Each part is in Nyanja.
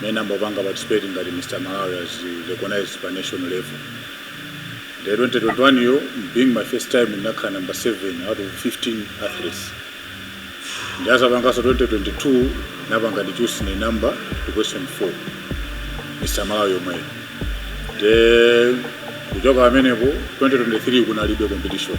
mmene amapanga participate ngati Mr Malawi azi recognize pa national level nde 2021 yo being my first time ndinakhala number 7 out of 15 athletes ndinazapangaso 2022 napanga reduce ni number to question 4 Mr Malawi yomweyo nde kuchoka pamenepo 2023 kunalibe competition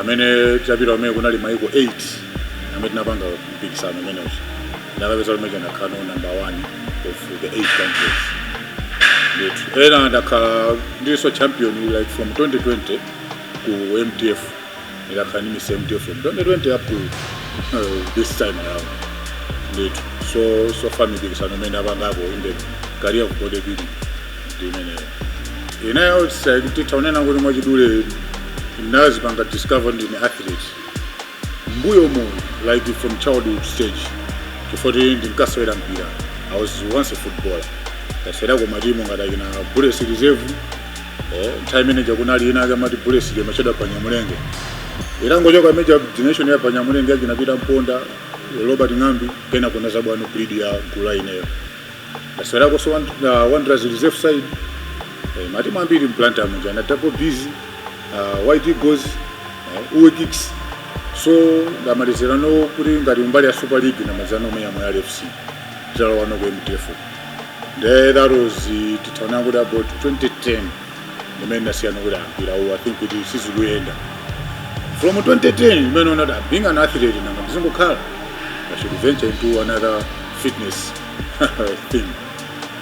amene tinapita kumene kunali maiko 8 amene tinapanga mpikisano umenewu nakapezeka kuti ndakhala number one of the eight countries ndithu ndakhala ndilinso champion like from 2020 ku mtf ndakhala ndi mr mtf from 2020 up to uh, this time around ndithu so so far mipikisano imene ndapangako in the career ku bodybuilding ndi imeneyo ineyo titha kunena kuti mwachidule ndinazipanga discover ndine athlete mbuyomu like from childhood stage chifukwa kuti ndinkasewera mpira i was once a footballer ndasewera ku matimu ngati akina bullets reserve eh, nthawi imene ija kunali ina akamati bullets ija ya Kinnah Phiri pa nyamulenge itangochoka major generation ya panyamulenge akina peter mponda robert ng'ambi kenako inazabwerano breed ya gula ineyo aserakoso uh, wanderers reserve side eh, matimu ambiri mplanta muja na double busy uh, white eagles uh, uwe kicks so ndamalizira no kuti ngati mbali ya super league ndamalizira nomwe yamwe ya fc titalowa no ku mtf nde that was uh, titaona kuti about 2010 mmene nazaona kuti a mpira uwu i think kuti sizikuyenda from 2010 mmene ndinati "Ah, being an athlete nanga ndizingokhala i should venture into another fitness thing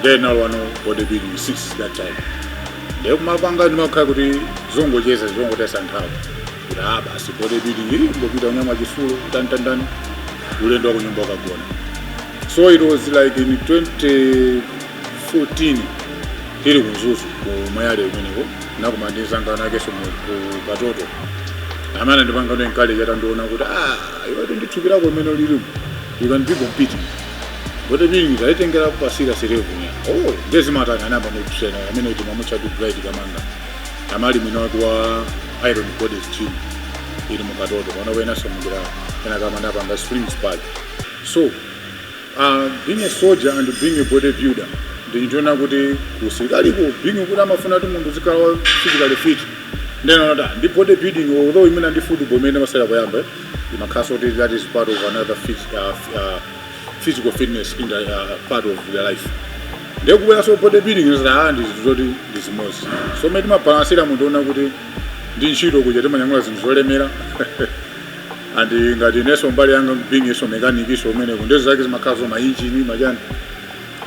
then nalowano bodybuilding since that time ndiye kumapanga ndimakhala kuti zongocheza zongotayitsa nthawi kuti a basi bodybuilding kungopita kunyamula chitsulo tantantani ulendo wakunyumba kukagona so it was like in 20 14 tili ku mzuzu ku moyale kumeneko nakumana ndi mzanga winawakeso mu- ku katoto amene andipanga encourage atandiona kuti ah iwe ndi thupi lako mmene lilimu you can be competing koma mmene sindinaitengera pa serious level kunya oh ndezi matanga anamba ndi kusena amene timamutcha kuti bright kamanga amali mwina wake wa iron bodies gym ili mu katoto pano kwinaso amene akumapanga springs park so Being a soldier and being a body builder ndi chinthu chonena kuti ku usilikaliko being kuti amafuna munthu uzikhala wa physically fit nde kunena kuti ah, ndi body building although even ndi football imene ndimasewera poyamba imakhaso kuti that is part of another fit, uh, uh, physical fitness in the, uh, part of their life ndiye kubweranso body building zinali zinthu zoti ndi zimodzi so mmene ndimabalansira ndi zonena kuti kuntchito kuja timanyamula zinthu zolemera and ngati ineso mbali yanga beingso mechanikiso umeneko nde zozake zimakhala za mainjini machani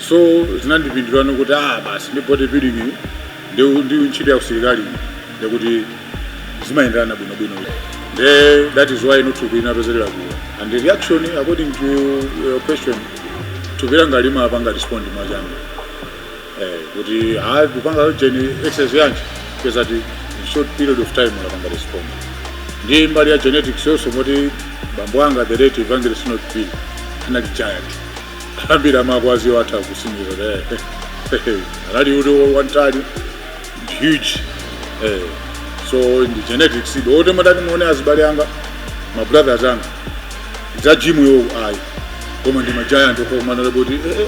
so zinandipindulano kuti ah basi ndi body building iyi, ndi ntchito ya usilikali iyi, yakuti zimayenderana bwinobwino nde that is why ndi thupi inapezerera kuwa and the reaction according to your question thupi langa limapanga respond mwachangu eh, kuti hayi kupanga yojeni exercise yanji because at a short period of time unapanga respond ndi mbali ya genetics also moti bambo anga the late evangelist not bill anali giant ambiri amawadziwa atha kutsimikiza anali munthu wamtali huge eh, so ndi genetics idi oti mutati muone azibale anga ma brothers anga za gym yo ayi koma ndi ma giant okomanala kuti eh, eh,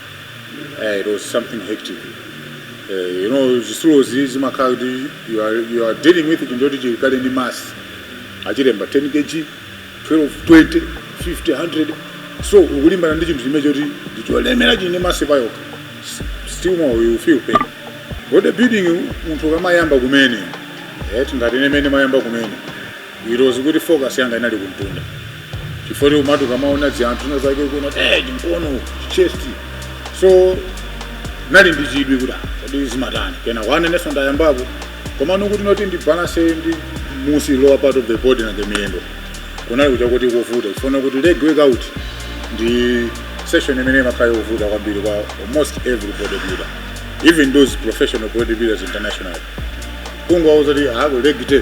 eh, it was something hectic eh, you know zisulozi zimakhala kuti you are, you are dealing with chinthu choti chili kale ndi mass achilemba 10 kg 12 20 50 100 so ukulimbana ndi chinthu chimene choti ndicholemera chili ndi mass payokha S- still more you feel pain body building munthu ukamayamba kumene eh, tingati ine mmene ndimayamba kumene ilozi kuti focus yanga inali kumtunda chifukwa kuti umati ukamaona dzianthu na zake kuona kuti eh chimkono chest so ndinali ndi chidwi kuti ah, kodi zimatani kenako nanenso ndayambapo komano kuti noti ndi balance ndi mmunsi lower part of the body na the miyendo kunali kucha kuti kovuta chifukwa kuti leg workout ndi session imene imakhala yovuta kwambiri kwa almost every bodybuilder even those professional bodybuilders internationally kungowauza kuti ako leg day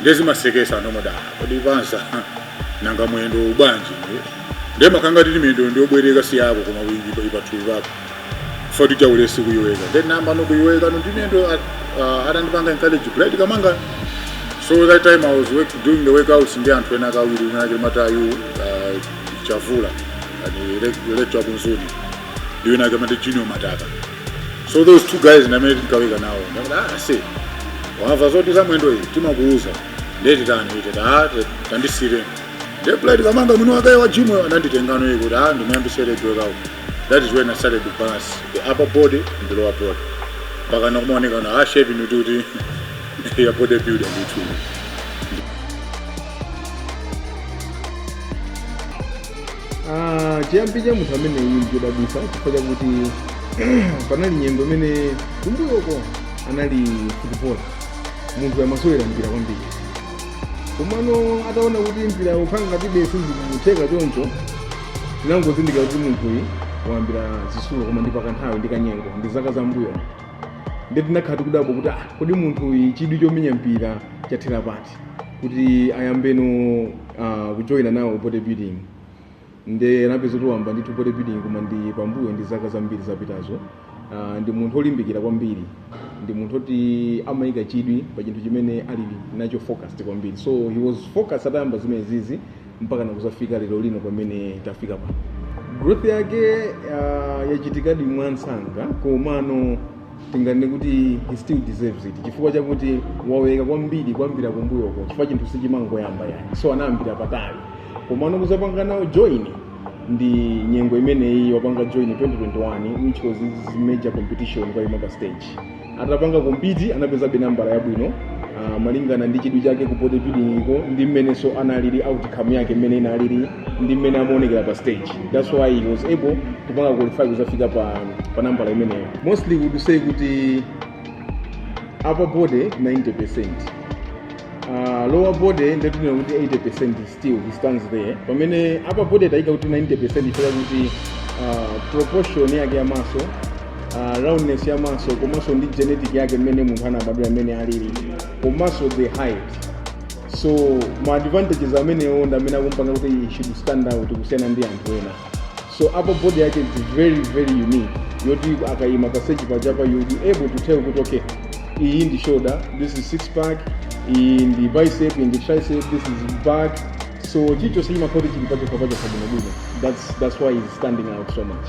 ndiye zimasekesa anthu amatha kundifunsa nanga mwendowu bwanji ndiye ndiye imakhala ngati miyendo ndi yobwereka si yako koma ili pathupi pako chifukwa cha ulesi kuiweka ndiye namba no kuiweka no ndi mwendo atandipanga encourage bright kamanga so that time i was work, doing the workouts ndi anthu ena awiri winawake mateyu uh, chavula ndi lecturer wa ku mzuni ndi winawake amati junior mataka so those two guys ndi amene tinkaweka nawo ndakuti aise wamva zoti za mwendo iyi timakuuza ndiye titani itete ah te- tandisire ndiye bright kamanga mwini wake wa gym ananditengano iye kuti ah ndimuyambise leg workout that is when i started to balance the upper body and the lower body mpaka nakumaoneka na ah shape ni kuti ya body builder ndithu Ah, chiyambi cha munthu ameneyi ndichodabwitsa chifukwa chakuti panali nyengo imene kumbuyoko anali footballer munthuyu amasewera mpira kwambiri komano ataona kuti mpira ukukhala ngati sizikutheka choncho tinangozindikira kuti munthuyi wayambira zisulo koma ndi pakanthawi ndi kanyengo ndi zaka za mbuyo ndiye tinakhala tikudabwa kuti ah, kodi munthuyi chidwi chomenya mpira chathera pati kuti ayambeno uh, kujoyina nawo body building nde anapeza kuti wayamba ndithu body building koma ndi pambuyo ndi zaka zambiri zapitazo uh, ndi munthu olimbikira kwambiri ndi munthu oti amayika chidwi pa chinthu chimene ali nacho focused kwambiri so he was focused atayamba zimenezizi mpaka nakuzafika lero lino pamene tafika pa growth yake uh, yachitikadi mwansanga komano tinganene kuti he still deserves it chifukwa chakuti waweka kwambiri kuyambira kumbuyoko chifukwa chinthu sichimangoyamba yani so anayambira patali komano kuzapanga nawo join ndi nyengo imeneyi wapanga join 2021 which was his major competition kukaima pa stage atapanga compete anapezabe nambala yabwino uh, malingana ndi chidwi chake ku bodybuilding-ko ndi mmenenso analili outcome yake mmene inalili ndi mmene amaonekera pa stage that's why he was able kupanga qualify kuzafika pa, pa nambala imeneyo mostly I would say kuti upper body 90 percent Uh, lower body ndatinena kuti 80% still he stands there pamene upper body taika kuti 90% ifika kuti uh, proportion yake ya muscle uh, roundness ya muscle komanso ndi genetic yake mmene munthu anabadwira mmene alili komanso the height so ma advantages amenewo ndi amene akumpanga kuti he should stand out kusiyana ndi anthu ena so upper body yake is very very unique yoti akayima pa stage pajapa you'll be able to tell kuti okay iyi ndi shoulder this is six pack iyi ndi bicep iyi ndi tricep this is back so chilichonse chimakhala kuti chili pachokha pachokha bwinobwino that's, that's why he's standing out so much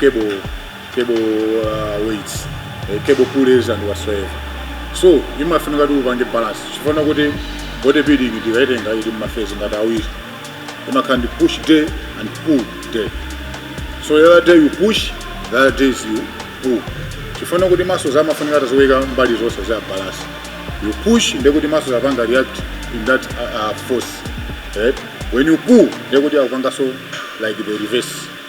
cable cable uh, weights eh, cable pulleys and whatsoever so imafunika kuti upange balance chifukwa kuti body building ndikaitenga ili mu ma phase ngati awiri imakhala ndi push day and pull day so the other day you push the other days you pull chifukwa kuti muscles amafunika tiziweka mbali zonse za balance you push ndekuti muscles apanga react in that uh, uh, force right? when you pull ndekuti akupangaso like the reverse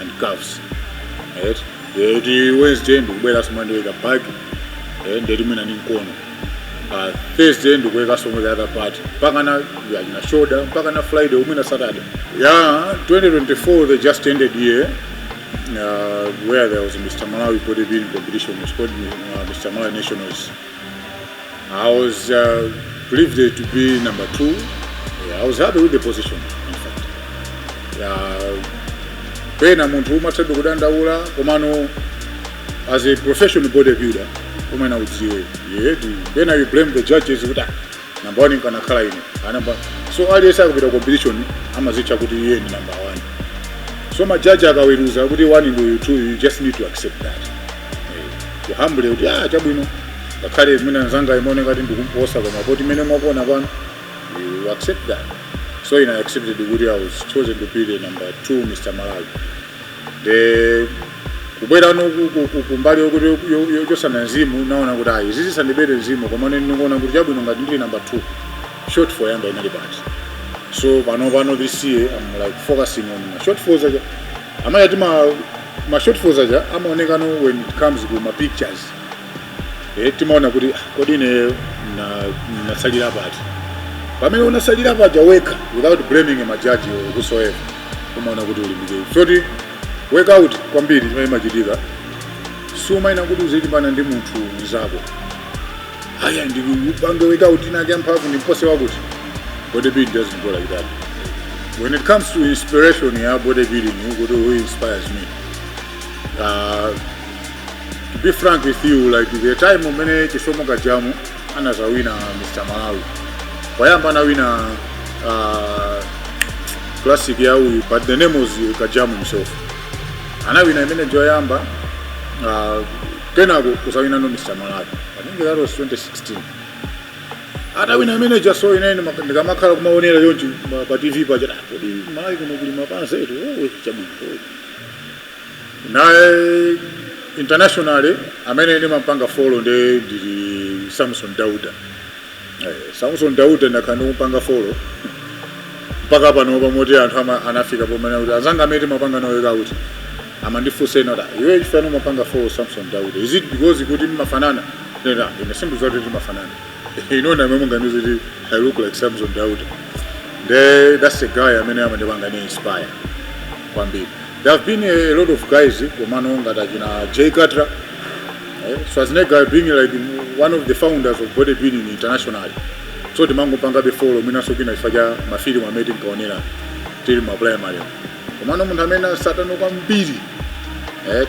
and calves right ndeti wednesday ndikubwerera zomwe ndiweka back eh, ndeti mwina ndi mkono pa thursday ndikuweka zomwe the other part mpaka na achina shoulder mpaka na friday mwina saturday ya 2024 the just ended year uh, where there was a Mr. Malawi bodybuilding competition, it was called uh, Mr. Malawi Nationals. I was uh, privileged to be number two. Yeah, I was happy with the position, in fact. Yeah, pena munthu umathabe kudandaula komano as a professional bodybuilder umene udziwe yeah, pena you blame the judges kuti "Ah, namba 1 nkanakhala ine anamba so aliyense akapita competition amazitcha kuti iye ndi namba 1 so majaji akaweruza kuti 1 ndi uyu you just need to accept that Eh, you humble kuti ah chabwino ngakhale mwina nzanga imaoneka ngati ndikumposa koma poti mmene mukuona pano you accept that so ine I accepted kuti I was chosen to be the number 2 Mr. Malawi nde kubwerano kumbali yochotsana mzimu naona kuti ayi izi sizinandibere mzimu koma ineyo ndikuona kuti chabwino ngati ndili namba 2 shortfall yanga inali pati so pano pano this year I'm like focusing on my shortfalls aja amayani ma shortfalls aja amaonekano when it comes to ma pictures e, timaona kuti ah, kodi ineyo natsalira pati pamene unatsalira pawekha without blaming majaji or whosoever kumaona kuti ulimbikire so the work out kwambiri ndimene imachitika sumayenera kuti uzilimbana ndi munthu mzako aya ndikupange work out inake mphamvu ndimpose wakuti bodybuilding doesn't go like that when it comes to inspiration ya bodybuilding kuti who inspires me uh, to be frank with you like the time umene chisomo kajamu anazawina mr malawi koyamba anawina uh, classic ya uyu but the name was kajamu himself anawina imene ija koyamba uh, kenako kuzawinano mr malawi i think that was 2016 atawina imene ijaso ine nde ndikamakhala kumaonera chonchi pa tv paja kodi malawi kuno kuli mapanzetu oh, chabwino oh. Nde internationally amene ndimampanga follow nde ndili Samson Dauda. Eh, Samson Dauda ndakhala ndikumpanga follow mpaka panopa moti anthu ama, anafika pomene kuti anzanga amene timapanga nawo work out amandifunsa ena kuti "Ah, iwe chifukwa chani umapanga follow Samson Dauda. Is it because kuti mmafanana? Nena, ine sindidziwa zoti timafanana. Inu ndamene mungandiuze kuti I look like Samson Dauda. Nde that's the guy amene amandipanga inspire kwambiri. There have been a lot of guys komano ngati achina Jay Cutler eh, Schwarzenegger being like one of the founders of bodybuilding internationally so timangopangabe follow mwinanso kwina chifukwa cha mafilimu amene tinkaonera tili m'ma primary komano munthu amene ndimamtsata no kwambiri eh,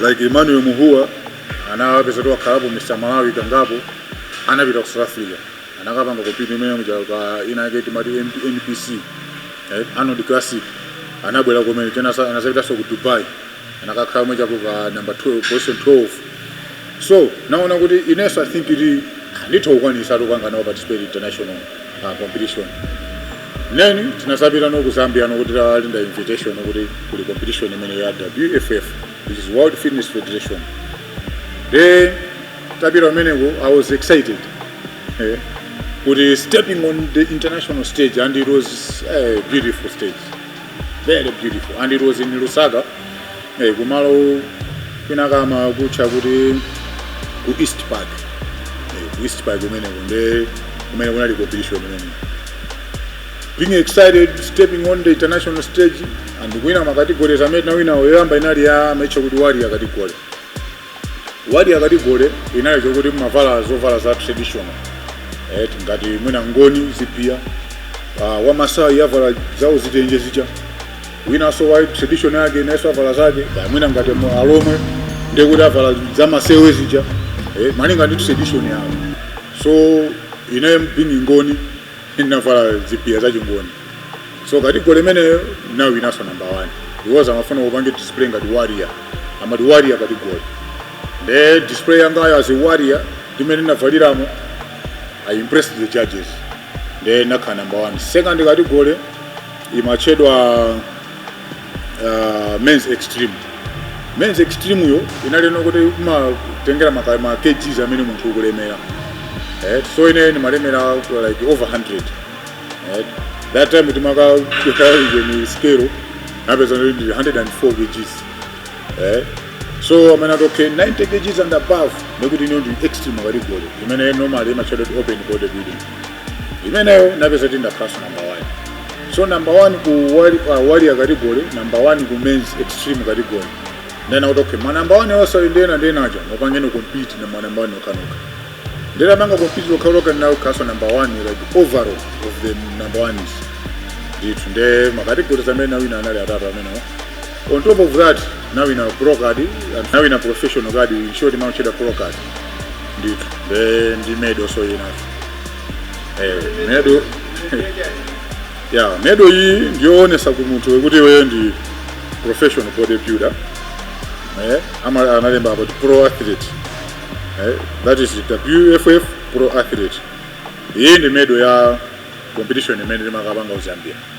like Emmanuel Muhua anapezeka kuti wakhalapo Mr Malawi kangapo anapita ku South Africa anakapanga compete imene ija pa ina yake timati MP- NPC eh, Arnold Classic anabwera komwe then sa- anazapitanso ku Dubai anakakhala mwina chaku pa number 12 position 12 so naona kuti inenso i think kuti nditha kukwanisa tipanga nawo participate international uh, competition 9 tinazapita no ku zambia nokuti talinda invitation kuti kuli competition imene ya wff which is world fitness federation de tapita kumeneko i was excited eh, kuti stepping on the international stage and it was a beautiful stage very beautiful and it was in lusaka eh, kumalo kwinakake amakutcha kuti ku east park eh, ku east park kumeneko nde kumene kunali competition imeneyo being excited stepping on the international stage and kuwina makategorizi amene tinawinawo yoyamba inali amaitcha kuti warrior category warrior category inali yokuti mumavala zovala za traditional et ngati mwina ngoni ziphiya uh, wamasayi avala zawo zitenje zija winanso wa tradition yake inaso avala zake kaya mwina ngati mu- alomwe ndekuti avala zamasewe zija eh, malinga ndi tradition yawo so ine being ngoni ndinavala zipiya za chingoni so category imeneyo ndinawinanso namba 1 because amafuna kupange display ngati warrior amati warrior category nde display yangayo as a warrior mmene ndinavaliramo i impressed the judges nde nakhala namba 1 second category imatchedwa uh, men's extreme men's extreme yo inali yokuti imatengera ma kgs amene munthu ukulemera eh, so ine ndimalemera like over 100 eh, that time titaika pa scale napeza ndi 104 kgs eh, so amene okay 90 kgs and above ndekuti ino ndi extreme category imene normally imatchedwa kuti open body building imeneyo napeza kuti ndakhalaso number one so number one ku wali- ah, warrior category number one ku men's extreme category ndena kuti okay ma number one onse awo ndena ndenaja mupangene compete ndi ma number one okhaokha nde napanga compete okhaokha nawo nakhalaso number one like overall of the number ones ndithu nde ma categories amene nawina anali atatu amenewo on top of that nawina pro card nawina professional card in short imatchedwa pro card ndithu nde ndi medal so inayo eh, medal ya medal iyi ndiyoonesa ku munthu yokuti iweyo ndi professional bodybuilder eh, ama- analemba about pro athlete eh, that is wff pro athlete iyi ndi medal ya competition imene timakapanga ku zambia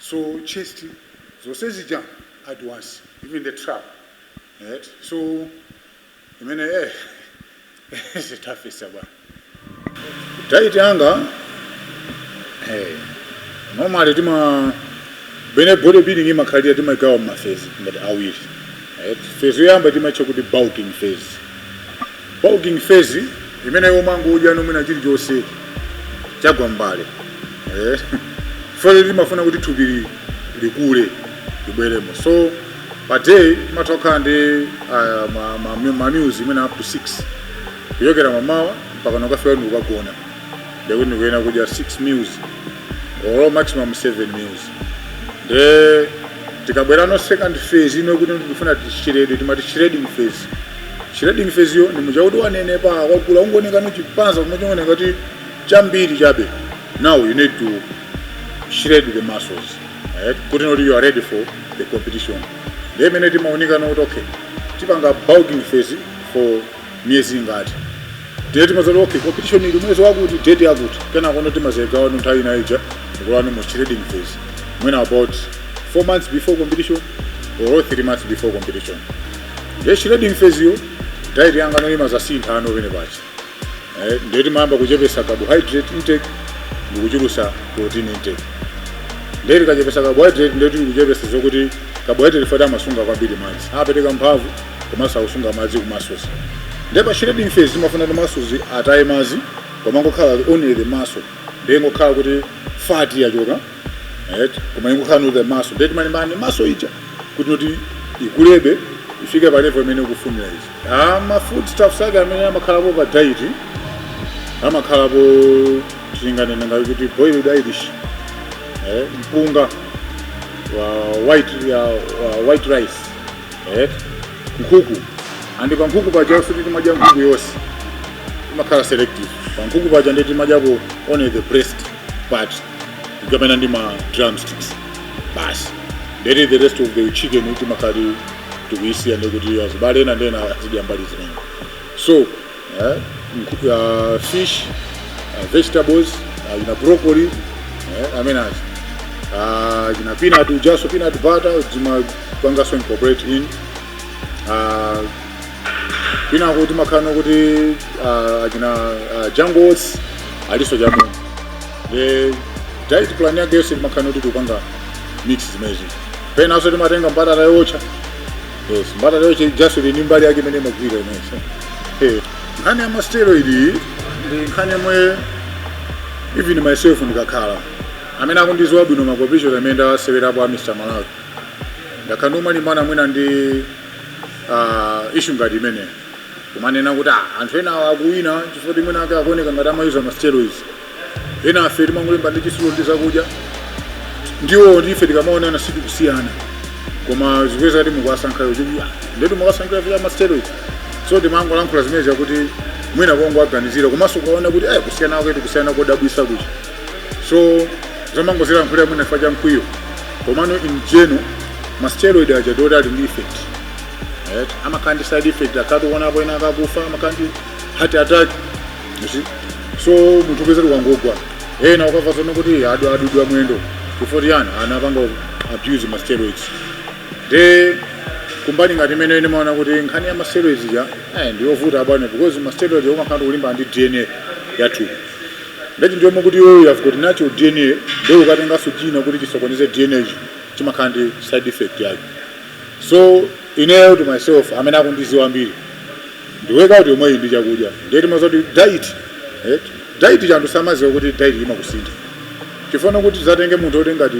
so chest zonse zija at once even the trap right so imene eh zimafika bwanji diet yanga eh normally tima- mmene body building imakhalira timagawa ma phase ngati awiri right phase yoyamba timatcha kuti bulking phase Bulking phase imeneyo umangodya ino mwina chilichonse chagwa mbale eh, phase timafuna kuti thupi li- likule libweremo so pa day umatha kukhala ndi ah, ma- ma- ma meals mwina up to 6 kuchokera mamawa mpaka pokafika ndi kukagona ndekuti ndikuyenera kudya 6 meals or maximum 7 meals nde tikabwera ku second phase ino kuti ndikufuna tishrede timati shredding phase shredding phase yo ndimuja kuti wanenepa wakula ungoneka ndi chipanzi chabe chongooneka ngati chambiri chabe now you need to shred the muscles right? kuti now you are ready for the competition nde mmene timaunika ndi kuti okay tipanga bulking phase for miyezi ingati ndiye timaziwano okay competition ili mwezi wakuti date yakuti kenako ndo timazigawano nthawi ina ija kulowano mu shredding phase mwina about 4 months before competition or 3 months before competition ndiye shredding phase yo diet yangano imazasinthano pena pake eh, ndiye timayamba kuchepesa carbohydrate intake ndikuchulusa protein intake ndiye tikachepesa carbohydrate ndiye tikuchepesa zokuti carbohydrate fat amasunga kwambiri madzi amapereka mphamvu komanso akusunga madzi ku muscles ndiye pa shredding phase timafuna kuti muscles ataye madzi komangokhala only the muscle ndiye ngokhala kuti fat yachoka right koma ingokhala only the muscle ndiye timalimbana ndi muscle ija kuti noti ikulebe ifike pa level imene ukufunira izi ah ma food stuffs ake amene amakhalapo pa diet amakhalapo tinganene ngati kuti boiled irish eh, mpunga wa white ya wa white rice eh nkhuku and pa nkhuku paja sikuti timadya nkhuku yonse timakhala selective pa nkhuku paja ndiye timadyapo only the breast part tikamanena ndi ma drumsticks basi ndekuti the rest of the chicken timakhala ti- tikuyisiya ndekuti azibale ena ndi ena azidya mbali zimenezo eh, nku- ah, fish ah, vegetables achina broccoli eh, amene aja achina peanut ujaso peanut butter zimapangaso incorporate in ah, penapo timakhala kuti ah, achina ah, jungles aliso mmo the diet plan yake yonse timakhala kuti tikupanga mix zimenezi penaso timatenga mbatata yootcha Yes, mbatata yootcha ijaso ndi mbali yake imene imagwira inaso. Eh, nkhani ya masteroid iyi ndi nkhani yomwe even myself ndikakhala amene akundiziwa bwino ma competition amene ndasewerapo a Mr. Malawi ndakhala ndikumalimbana mwina ndi uh, issue ngati imeneyo kumanena kuti ah, anthu ena akuwina chifukwa choti mwina mwake akuoneka ngati amayuza masteroids enafe timangolimba ndi chitsulo ndi zakudya ndiwo ndife tikamaona size tikusiyana koma zikupezeka kuti mukuwasankhawo kuti "Ah, ndetu mukuwasankhira za masteroid so timangolankhula zimenezi kuti mwina kungowaganizira komanso ukaona kuti eh kusiyana kwake tikusiyana kodabwisa kuti so timangozilankhulira mwina chifukwa cha mkwiyo komano in general masteroid aja ndiwoti ali ndi effect right? amakhala ndi side effect takhala tikuwonapo ena akufa amakhala ndi heart attack You see? so munthu kupezeka wangogwa ena ukamva zonena kuti adu- adulidwa mwendo chifukwa chani anapanga abuse ma steroids nde kumbali ngati imeneyo ine ndimaona kuti nkhani ya ma steroids ija eh, ndiyovuta abwana because ma steroids umakhala kuti ukulimbana ndi dna ya thupi ndati ndiye kuti iweyo you have got natural dna nde ukatenganso china kuti chisokoneze dna ichi chimakhala ndi side effect yake so ineyo to myself amene akundiziwa mbiri ndi workout yomweyi ndi chakudya ndiye timaziti diet eti diet cha anthu samaziwa kuti diet imakusintha chifukwa kuti uzatenge munthu oti ngati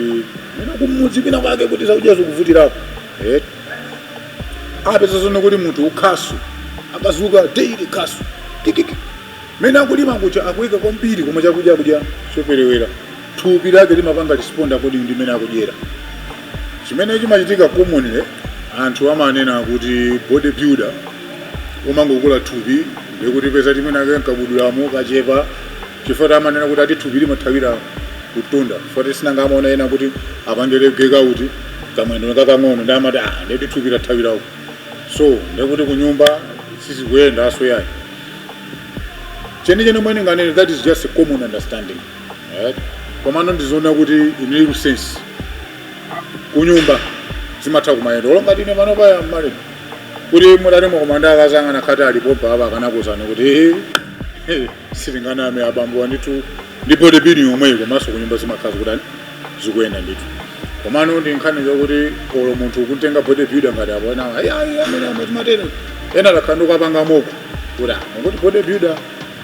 mwina kumudzi kwina kwake kuti zakudya zikuvutirapo eti upeza zoona kuti munthu wa khasu akazuka daily khasu kikiki mene akulima kucha akuweka kwambiri koma chakudya akudya choperewera thupi lake limapanga respond according ndi mmene akudyera chimene chimachitika commonly anthu amanena kuti body builder umangokula thupi ndiye upeza timiyendo take nkabudulamo kachepa chifukwa chake amanena kuti ati thupi limathawira kutunda chifukwa choti si nanga amaona ena sakuti apange leg day kuti kamwendo kakang'ono nde amati ah nde kuti thupi lathawira uko so ndikuti kunyumba sizikuyendanso yayi chenicheni chomwe ninganene that is just a common understanding right? komano ndizoona kuti in real sense kunyumba zimatha kumayenda olo ngati ine pano pa age imeneyi mutati mwakumana ndi akazi anga anakhala kuti alipo apa akanakuuzani kuti "Ehe, eh, sindinganame abambowa ndithu ndi bodybuilding yomweyo komanso kunyumba zimakhala zikutani zikuyenda ndithu komano ndi nkhani zokuti olo munthu ukumutenga bodybuilder ngati alipo ena ayi ayi amene amazimata enaake nkupanga mock kuti ah, mukuti bodybuilder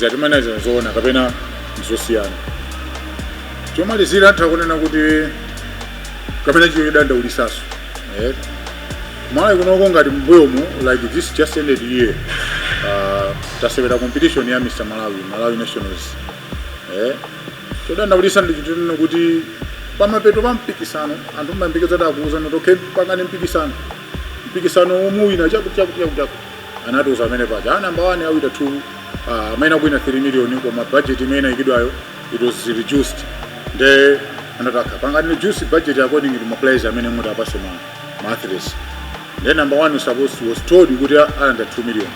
Zatimenezo nzoona kapena nzosiyana? Chomalizira titha kunena kuti kapena chi cho chodandaulisaso eh? Malawi kunoko ngati mbuyomu like this just ended year uh, tasewera competition ya Mr. Malawi Malawi Nationals eh? chodandaulisa ndichonena kuti pamapeto pa mpikisano anthu mmayembekezera kuti akuuzani kuti okay pangani mpikisano mpikisano umuwina chakuti chakuti chakuti chakuti anatiuza amene paja ah, number one awina two ah, amene akuwina 3 million koma budget imene inayikidwayo it was reduced nde anathi akapanga reduce budget according to ma players amene muti awapase ma, ma athletes nde number one was supposed was told kuti alandira 2 million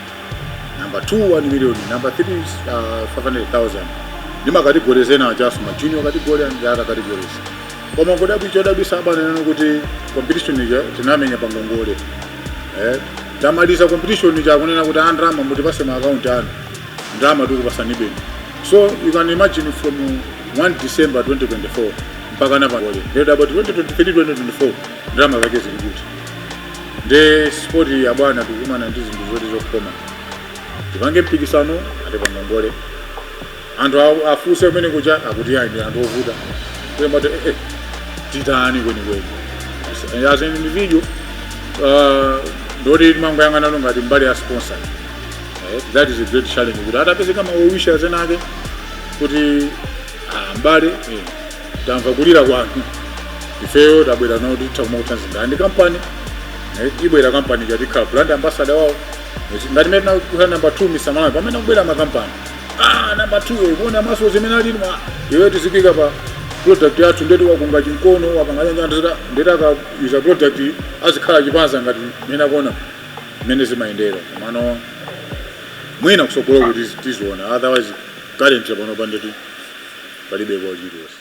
number two 1 million number three is, uh, 500000 ndi ma categories ena just ma junior category and the other categories koma kudabwi chodabwisa ndi chonena kuti competition ija tinamenya pangongole eh, tamaliza competition ija akunena kuti a ndalama mutipase ma account anu ndalama tikupasani pa bank so you can imagine from 1 december 2024 mpaka pano olo then about 2023 2024 ndalama zake zili kuti nde sport yabwino tikumana ndi zinthu zoti zokhoma tipange mpikisano ati pangongole Anthu a- afuse kumene kuja akuti ayi ndi anthu ovuta Ndiye mati, eh, eh, tichitanji kwenikweni As- as an individual uh, nde kuti timangoyang'ananso ngati mbali ya sponsor Eh, that is a great challenge kuti atapezeka ma well-wishers enaake kuti ah, mbale eh, tamva kulira kwanu ifeyo tabwera nafe titha kumakuthandizira ndi kampani eh, ibwera kampani uzikhala brand ambassador wawo ngati mene tinakukhala number 2 Mr. Malawi pamene kubwera makampani ah number 2 kuona ma muscles mmene ali mwa iwe tiziika pa product yathu nde kuti wakunga chimkono wapanga nyanja ndita ndita ka user product azikhala chipanza ngati mene akuona mene zimayendera komano mwina kusogolo kuti tiziona otherwise currently pano pandekha palibe kwa chilichonse